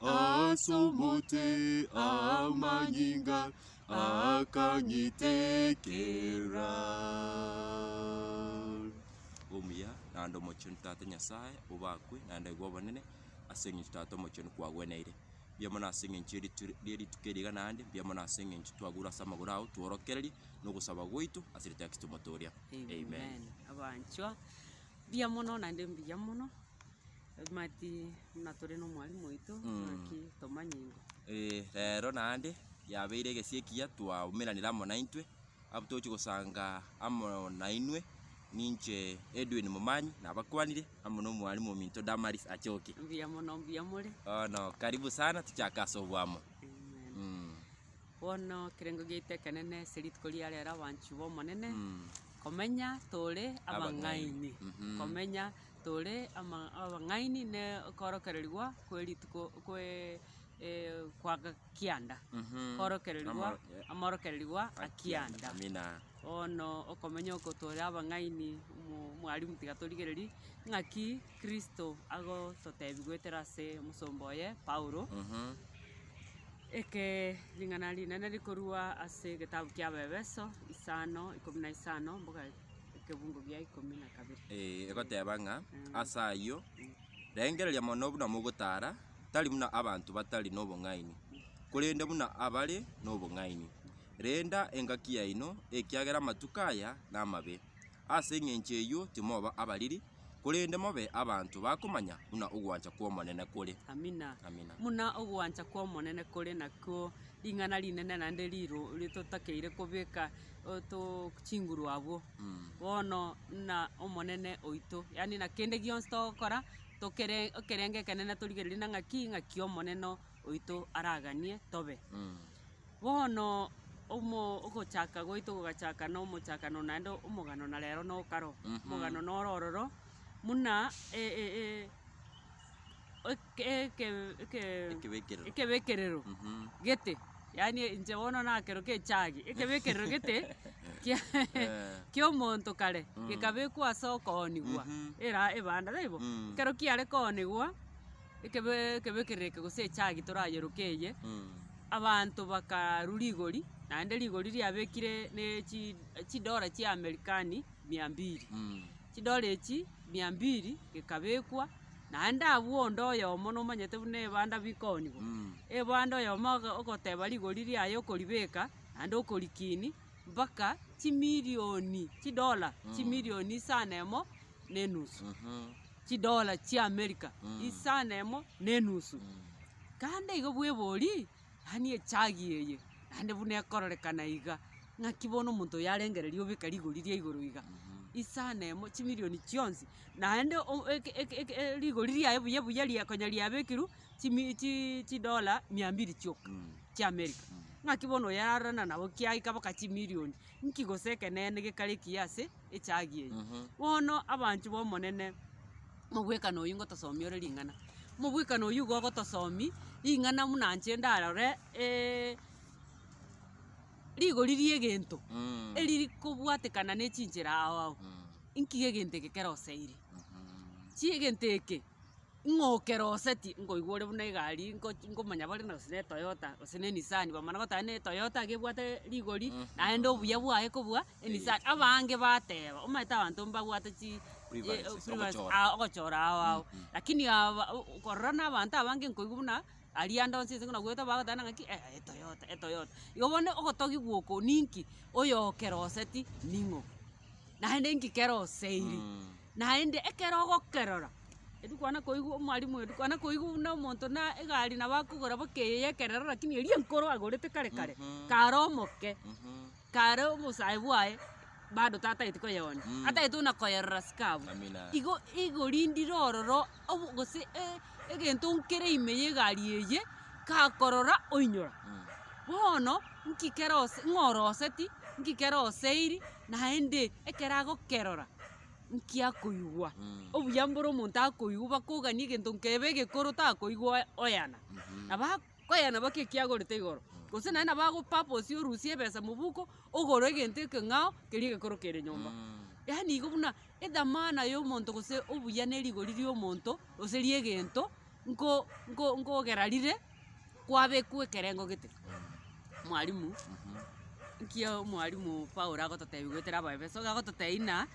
as'omote amanyinga akanyitekera. Omuya, naende omochenu Tata Nyasae, obakwe, naende aigwe obonene, ase eng'encho Tata omochenu kwagweneire. Mbuya mono ase eng'encho y'eritu- y'erituko eri iga naende, mbuya mono ase eng'encho twagurwa ase amagoro ao, tworokererie nogosaba gwaito ase erieta ya Kristo Omoto oria. Amen. Abanchwa, mbuya mono naende mbuya mono, mati. Buna tore nomwalimu oito ng'aki tomanye ingo. Ee, rero naende yabeire egesie ekiya twaumeranire amo naintwe, abwo togochia gosanga amo nainwe, ninche Edwin Momanyi nabakwanire, amo na omwalimu ominto Damaris Achoki. Mbuya mono mbuya more. Bono karibu sana tochake ase obwamo. Amen. Mm. Bono ekerengo giaito ekenene ase rituko ria rero abanchwa b'Omonene, Mm. komenya tore abang'aini, Mhm. komenya tore ama abang'aini ne okoorokererigwa kwe rituko kwee kwa ga kianda, koorokererigwa amaorokererigwa a kianda. Amina. Bono okomenya oko tore abang'aini mo- mwalimu tiga torigererie ng'aki kristo agototebi goetera ase omosomba oye paulo, ekee ring'ana rinene rikorwa ase egetabu ki'abaefeso isano ikomi na isano mpaka. Ekebugo gia ikomi na kabere. Ee, egoteba ng'a, Ase ayio, rengereria mono buna mogotaara, tari buna abanto batari nobong'aini, korende buna abare nobong'aini. Renda engaki yaino, ekiagera amatuko aya namabe. Ase engencho eyio timoba abariri, korende mobe abanto bakomanya buna ogwancha kw'Omonene kore. Amina. Amina. Buna ogwancha kw'Omonene kore nakwo ring'ana rinene naende riro ritotakeire kobeka oto chinguru abwo. Bono buna Omonene oito, yaani na kende gionsi togokora, tokere ekerengo ekenene torigereria na ng'aki ng'aki Omonene oito araganie tobe. Bono omo ogochaka gwaito gogachaka na omochakano naende omogano na rero na okaro. Omogano noro ororo buna e- e- e- eke- eke- eke- Ekebekerero. ekebekerero gete, yaani inche bono nakero kechagi, ekebekerero gete kia kia omonto kare, gekabekwa ase okoonigwa era ebanda taibo? Ekero kiare koonigwa. Ekebe ekebe ekereke gose echagi torayeroke eye, abanto bakarwa rigori, naende rigori riabekire ne chi chidola chia Amerikani mia mbiri. Chidola echi mia mbiri gekabekwa, naende abwo onde oyomo nomanyete buna ebanda bikooniwa, ebanda oyomo ogo ogoteba rigori riaye okoribeka naende okorikiini mpaka chimirioni chidola chimirioni isa nemo na enusu. chidola chi'Amerika isano emo na enusu. Kande igo bwebori, yaani echagi eye, naende buna ekororekana iga, ng'aki bono omonto oyo arengereria obeka rigori ria igoro iga, isano emo, chimirioni chionsi, naende o- eke- eke- eke rigori riaye buya buya ria konya riabekirwe chimi chi chidola mia mbiri chioka chi'Amerika. Ng'aki bono oyo ararorana nabo kiaika mpaka chimirioni, nki gose ekeneene gekarekiyi ase. echaagi eye. Bono abanchwa b'Omonene, omobwekano oyio ngotosomia ore ring'ana. Omobwekano oyio igo ogotosomia ring'ana buna inche ndarore rigori ri'egento eriri kobwatekana ne chinchera ao ao. Inki egento eke kero osaire? Chi egento eke. Ng'a okeroseti nkoigwa ore buna egari ngochi nkomanya bare na gose ne Toyota gose ne Nissan bamana goteba ne Toyota iga ebwate rigori naende obuya bwaye kobua eNissan abange bateba omanyete abanto mbabwate chi Preferences, eh preference ogochora. ah ogochora ao ao lakini aba u u korora na abanto abange nkoigwa buna aria ande onsi ense buna goeta bagoteba nang'a ki eh eToyota eToyota igo bono ogotogigwa oko ninki oyo okeroseti ning'o naende inki keroseiri naende ekero ogokerora. Erio kwana koigwa omwalimu oyo kwana koigwa buna omonto na egari nabo akogora boka eye ya ekerero rakini eria enkoro agorete kare kare, kare omoke, kare obosae bwaye bado tataeti koyeonia, ataeti buna koyerora sika abwo. Igo igorindire ororo obo gose e- egento nkere ime ya egari eye, kakorora oinyora. Bono, nki kere ose ng'oroseti, nki kere oseiri, naende ekero agokerora. nkia koigwa, obuya mbore omonto akoigwa bakogania egento nkebe egekoro takoigwa oe- oyana. Na ba- koyana baka ekiagorete igoro, gose naende nabo ago purpose orusie ebesa mobuko, ogore egento ekeng'ao keria egekoro kere nyomba. Yaani igo buna edhamana ya omonto gose obuya ne rigori ria omonto, gose ria egento nko- nko- nkogera rire kwabekwa ekerengo gete, mwalimu nkiya omwalimu Paulo agototebi goetera Abaefeso, iga agototebia ng'a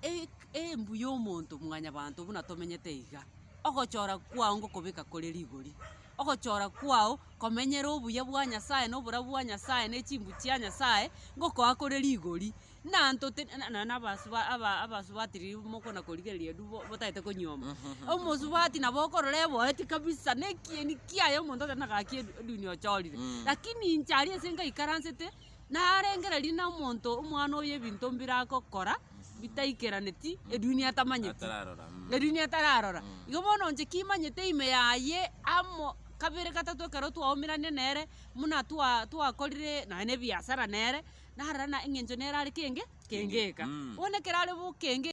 e- embu ya omonto mwanyabanto buna tomenyete iga, ogochora kwao ngokobeka kore rigori, ogochora kwao komenyera obuya bwa Nyasaye na oborabu bwa Nyasaye na echimbu chia Nyasaye, ngokoa kore rigori. na ntotiri na- na- nabasuba aba- abasubati riria mokona korigereria riria bo- botagete konyiomi, omosubati nabo okorora eboeti kabisa, na ekieni kiaye omonto otari na gaki edu- eduni ochorire. Mm. Lakini inche aria ase ngaikaransete, narengereria na omonto omwana oyo ebinto mbiragokora, bitaikeraneti eduni atamanyeti. Atararora, mm. Eduni atararora. Mm. Igo bono inche kimanyete ime yaye, amo kabere gatato ekero twaumeranirie nere, muna twa- twakorire nonye na ebiasara nere, narara na engencho nere are kenge kengeka. Bono ekero are bo kenge.